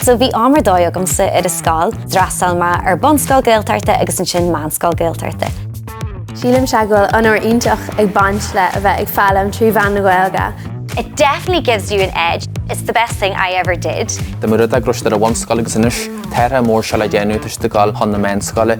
So bhí am ar dóigh agamsa ar an scoil, d'fhreastail mé ar bunscoil Gaeltachta agus ansin meánscoil Gaeltachta. Sílimse go bhfuil onóir iontach ag baint le a bheith ag foghlaim trí mheán na Gaeilge. It definitely gives you an edge, it's the best thing I ever did. Tá mé i rang a ceathair ar an bhunscoil agus anois, tá athrú mór saoil le déanamh, tá siad ag dul chun na meánscoile.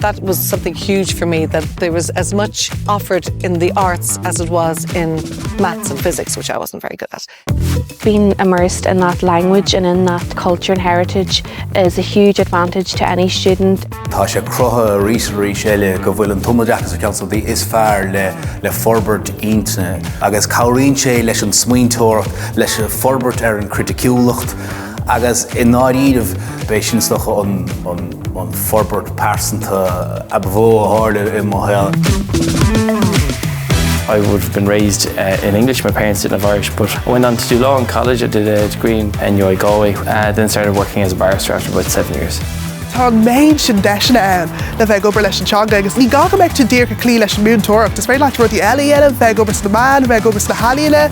That was something huge for me that there was as much offered in the arts as it was in maths and physics, which I wasn't very good at. Being immersed in that language and in that culture and heritage is a huge advantage to any student. Tá sé cruthaithe arís is arís eile go bhfuil an tumoideachas ar cheann de is fearr le forbairt intinne agus cabhraíonn sé leis an smaointeoireacht, leis an forbairt ar an chriticiúlacht agus i ndáiríre b'é sin is dócha an. An forbairt pearsanta ab mhó a tharla i mo shaol. I would have been raised in English, my parents didn't have Irish but I went on to do law in college, I did a degree in NUI Galway then started working as a barrister after about seven years. Tá an méid sin deiseanna ann le bheith ag obair leis an teanga agus ní gá go mbeidh tú díreach ag cloí leis an múinteoireacht, is féidir leat rudaí eile a dhéanamh, bheith ag obair sna meáin, bheith ag obair sna healaíona.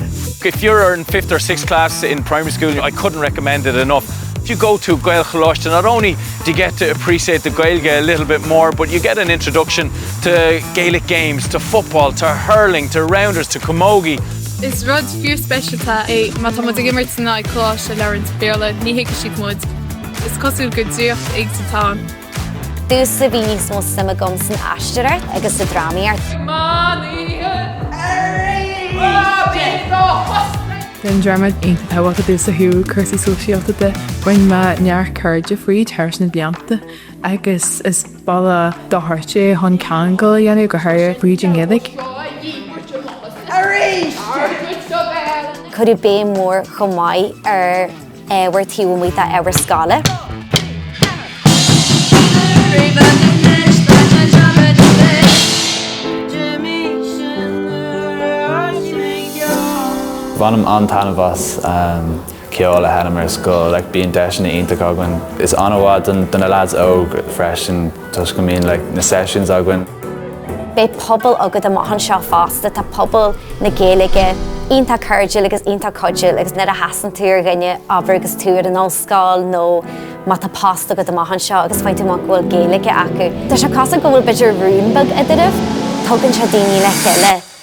If you're in fifth or sixth class in primary school, I couldn't recommend it enough. If you go to Gael Choláiste not only do you get to appreciate the Gaeilge a little bit more but you get an introduction to Gaelic games, to football, to hurling, to rounders, to camogie. Is rud fíorspeisialta é má tá muid ag imirt in aghaidh coláiste a labhraíonn Béarla, ní thuigfidh siad muid. Is cosúil gur draíocht éigin atá ann. Domhsa, bhí níos mó suim agam san aisteoireacht agus sa drámaíocht. Bhí an dráma iontach tábhachtach domhsa ó thaobh cúrsaí sóisialta de. Rinne mé neart cairde fríd thar na blianta agus is bealach ar dóigh é chun ceangail a dhéanamh, go háirithe fríd an Ghaeilge. Cuireadh béim mhór chomh maith ar. obair taobh amuigh d'obair scoile. Bhainim an-taitneamh as ceol a sheinm ar scoil. Bíonn deiseanna iontacha againn. Tá sé an-mhaith do na leaids óga freisin. Toisc go mbíonn like na sessions againn. Beidh pobal agat amach anseo fosta, tá pobal na Gaeilge iontach cairdiúil agus iontach cuidiúil agus nuair a chasann tú ar dhuine, abair, agus tú ar an ollscoil nó má tá post agat amach anseo agus faigheann tú amach go bhfuil Gaeilge acu, tá sé cosúil go bhfuil b'fhéidir rún beag eadraibh, tugann sé daoine le chéile.